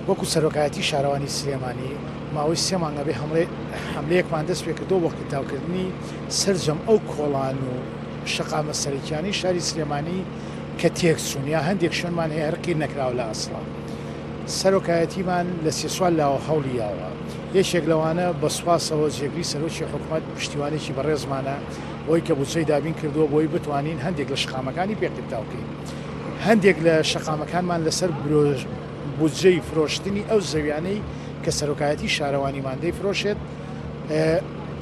وەکو سەرۆکایەتی شارەوانی سلێمانی ماوەی سێ مانگە بێ هەمڵێ حەملەیەکمان دەست پێ کردووە بۆ قیرتاوکردنی سەرجەم ئەو کۆڵان و شەقامە سەرەکیانەی شاری سلێمانی کە تێکچوون یا هەندێک شوێنمان هەیە هەر قیر نەکراوە لە ئەسڵا سەرۆکایەتیمان لە سێ چوار لاوە هەوڵی یاوە یەکێک لەوانە بە سوپاسەوە جێگری سەرۆکی حکوومەت پشتیوانێکی بەڕێزمانە بۆی کە بودجەی دابین کردووە بۆی بتوانین هەندێک لە شەقامەکانی پێ قیرتاو کەین. هەندێک لە شەقامەکانمان لەسەر بودجەی فرۆشتنی ئەو زەویانەی کە سەرۆکایەتی شارەوانیمان دەیفرۆشێت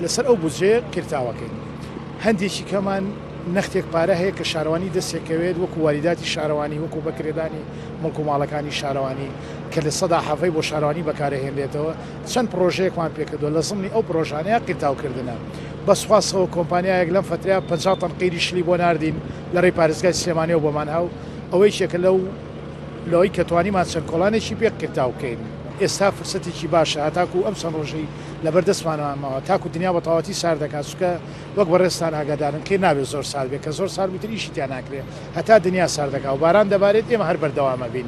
لەسەر ئەو بودجەیە قیرتاوەکەین هەندێکی کەمان نەختێک پارە هەیە کە شارەوانی دەسێکەوێت وەکو واریداتی شارەوانی وەکو بەکرێدانی مڵک و ماڵەکانی شارەوانی کە لە سەدا حەڤەی بۆ شارەوانی بەکارەهێنرێتەوە چەند پرۆژەیەکمان پێکردووە لە زمنی ئەو پرۆژانەیە قیرتاوکردنە بەسخواستەوە کۆمپانیایەک لەم فترەیە 50 تەن قیری شلی بۆ ناردین لەڕێی پارێزگای سلێمانیەوە بۆمان ها و ئەوە یەکێکە لەو لەوەی کە توانیمان چەند کۆڵانێکی پێ کرتاو کەین ئێستا فرسەتێکی باشە هەتاکو ئەم چەند ڕۆژەی لەبەر دەستمانەوە ماوە تاکو دنیا بەتەواوەتی سارد دەکات چونکە وەک بەڕێزتان ئاگادارن کەی نابێت زۆر سارد بێت کە زۆر سارد بوو تر ئیشی تیا ناکرێت هەتا دنیا سارد دەکات و باران دەبارێت ئێمە هەر بەردەوام ئەبین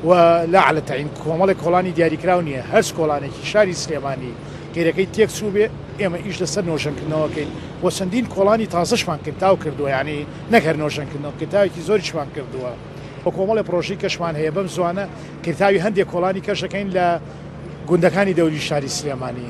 و لەعلە تەعین کۆمەڵێک کۆڵانی دیاریکراو نییە هەرچ کۆڵانێکی شاری سلێمانی قیرەکەی تێکچووبێ، ئێمە ئیش لەسەر نۆژەنکردنەوە کەین و چەندین کۆڵانی تازەشمان کتاو کردووە، یانی نەک هەر نۆژەنکردنەوە، کتاوێکی زۆریشمان کردووە و کۆمەڵێ پڕۆژەی کەشمان هەیە، بەم زووانە کتاوی هەندێ کۆڵانی کەش ئەکەین لە گوندەکانی دەوری شاری سلێمانی.